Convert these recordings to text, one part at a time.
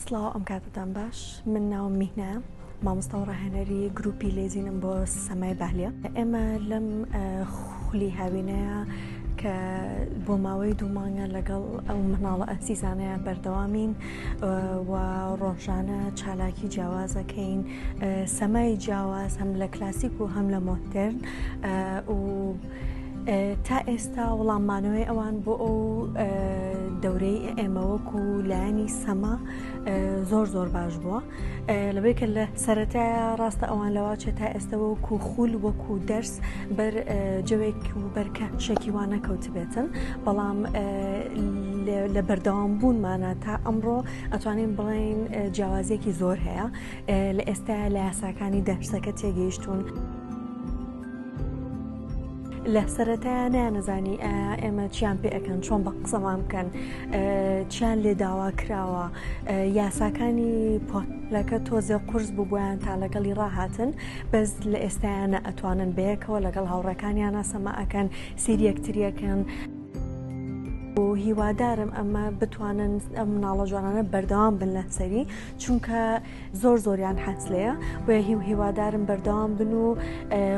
سڵاو ئەم کاتتان باش من ناوم میهنا مامۆستا و ڕاهێنەری گروپی لێزینم بۆ سەمای بالە ئێمە لەم خولی هاوینەیە کە بۆ ماوەی دوومانگە لەگەڵ ئەو مناڵە ئەسیزانەیە بەردەوامین و ڕۆژانە چالاکی جیاوازەکەین سەمای جیاواز هەم لە کلاسیک و هەم لە مۆترن و تا ئێستا وڵاممانەوەی ئەوان بۆ ئەو دەورەی ئێمەوەک و لایەنی سەما زۆر زۆر باش بووە لەبێت کە لە سەرەتا ڕاستە ئەوان لەواچێ تا ئێستا وەکو خول وەکو دەرس بەر جەوێک و بەرکە شەکیوان نەکەوت بێتن بەڵام لە بەردەوام بوونمانە تا ئەمڕۆ ئەتوانین بڵین جیاوازێکی زۆر هەیە لە ئێستایا لە یاساکانی دەشتەکە تێگەیشتوون. لە سەرەتایە نیانەزانی ئێمە چیان پێ ئەەکەن چۆن بە قسەمان بکەن چیان لێ داوا کراوە یاساکانی پۆلەکە تۆزێ قرس بوو بۆیان تا لەگەڵی ڕاهاتن بەس لە ئێستایانە ئەتوانن بەیەکەوە لەگەڵ هاوڕەکانیانە سەما ئەەکەن سری یەکتریەکەن. هیوادارم ئەمە بتوانن ئەم مناڵە جوانانە بەردەوام بن لە سەری چونکە زۆر زۆریان حەز لێیە بۆیە هیو هیوادارم بەردەوام بن و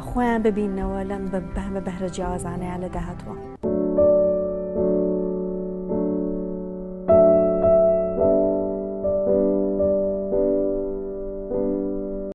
خۆیان ببینەوە لەم بەمە بەهرە جیاوازانەیان لە داهاتوە.